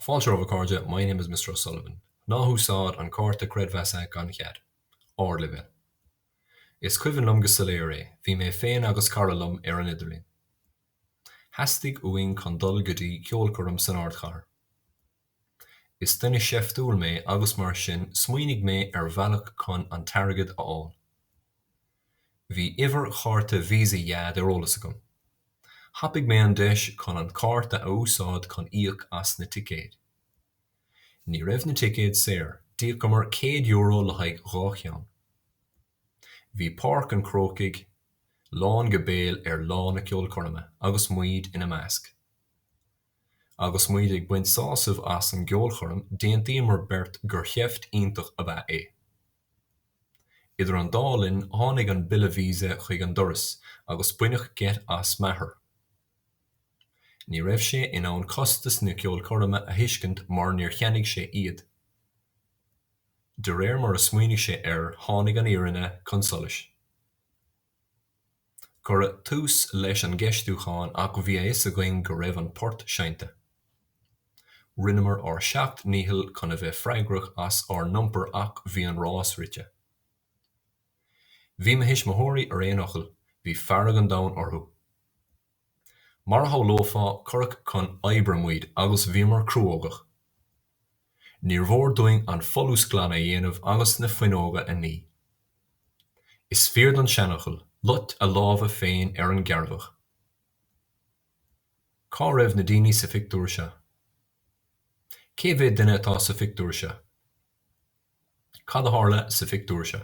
Fáilte romhat a chairde, my name is Mr O'Sullivan. Ná húsáid an cárta creidmheasa gan chead. Ardleibhéal. Is cuimhin liom go soiléir é, bhí mé féin agus cara liom ar an idirlíon. Theastaigh uainn chun dul go dtí ceolchoirm san ardchathair. Is duine seiftiúil mé agus mar sin smaoinigh mé ar bhealach chun an t-airgead a fháil. Bhí uimhir chárta Visa Dheaid ar eolas agam. Thapaigh mé an deis chun an cárta a úsáid chun íoc as na ticéid. Ní raibh na ticéid saor, d'íocamar céad euro le haghaidh dhá cheann. Bhí Páirc an Chrócaigh lán go béal ar lá na ceolchoirme agus muid ina measc. Agus muid ag baint sásamh as an gceolchoirm, d'aontaíomar beirt gur sheift iontach ab ea é. Idir an dá linn tháinig an bille visa chuig an doras agus baineadh geit as m'athair. Ní raibh sé in ann costas na ceolchoirme a thuiscint mar níor cheannaigh sé iad. De réir mar a smaoinigh sé air tháinig an fhírinne chun solais. Cuireadh tús leis an gceistiúchán ach bhí a fhios againn go raibh an port seinnte. Rinneamar ár seacht ndícheall chun a bheith freagrach as ár n-iompar ach bhí an rás rite. Bhí mo thuismitheoirí ar aon fhocal, bhí fearg an domhain orthu. Mar a shamhlófá, cuireadh chun oibre muid agus bhíomar cruógach. Níor mhór dúinn an folús glan a dhéanamh agus na fuinneoga a ní. Is fíor don seanfhocal, lucht a láimhe féin ar an gcearrbhach. Cá raibh na daoine sa phictiúr seo? Cé mhéad duine atá sa phictiúr seo? Cad a tharla sa phictiúr seo?